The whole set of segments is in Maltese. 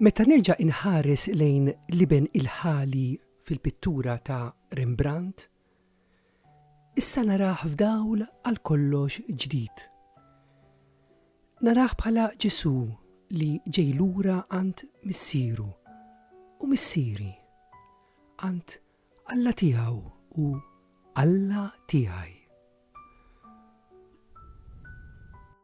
Meta nerġa' inħares lejn l-iben il-ħali fil-pittura ta' Rembrandt, issa narah f'dawl għal kollox ġdid. Narah bħala Ġesù li ġej lura għand Missieru, u Missieri, għand Alla tiegħu u Alla tiegħi.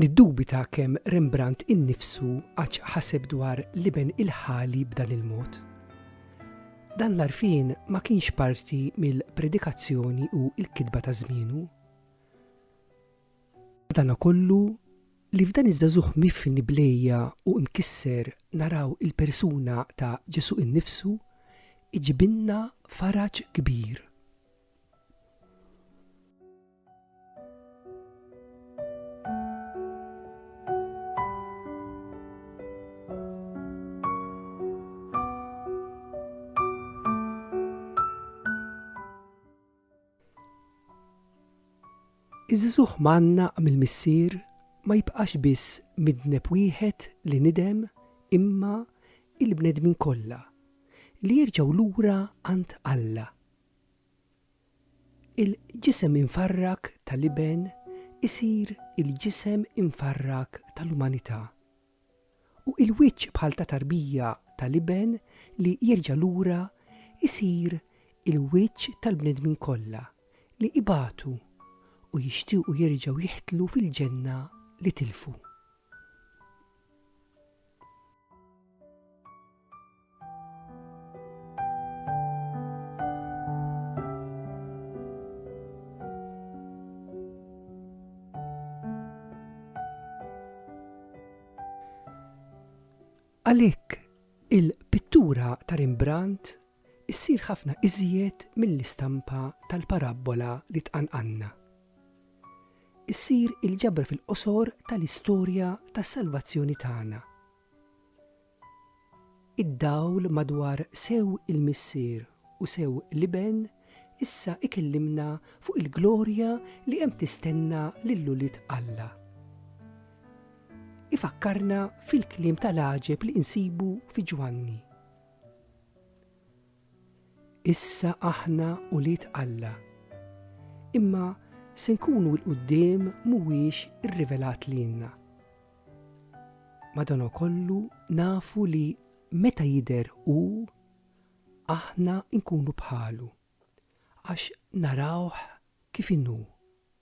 Niddubita kemm Rembrandt innifsu qattx ħaseb dwar l-iben il-ħali b'dan il-mod. Dan l-għarfien ma kienx parti mill-predikazzjoni u l-kitba ta' żmienu. Madanakollu, li f'dan iż-żagħżugħ mifni b'lejja u mkisser naraw il-persuna ta' Ġesù innifsu, iġibilna faraġ kbir. Iż-żuħ manna mill-missier ma jibqax biss midneb wieħed li nidem imma il-bnedmin kollha li jerġgħu lura għand Alla Il-ġisem imfarrak ta' l-Iben isir il-ġisem imfarrak ta' l-umanità. U il-wiċċ bħal ta' tarbija ta' l-Iben li jerġa' lura jsir il-wiċċ tal-bnedmin kollha li ibatu u jixtiequ jerġgħu jiħtlu fil-ġenna li tilfu. Għalhekk il-pittura ta' Rembrandt issir ħafna iżjed mill-istampa tal-parabbola li tqanqanna. Issir il-ġabra fil-qosor tal-istorja tas-salvazzjoni tagħna Id-dawl madwar sew il-Missier u sew l-Iben issa ikellimna fuq il-glorja li hemm tistenna lil ulied Alla. Ifakkarna fil-kliem tal-għaġeb li insibu fi Ġwanni. Issa aħna ulied Alla. Imma se nkunu 'l quddiem mhuwiex irrivelat lilna. Madankollu nafu li meta jidher Hu, aħna nkunu bħalu, għax narawh kif inhu.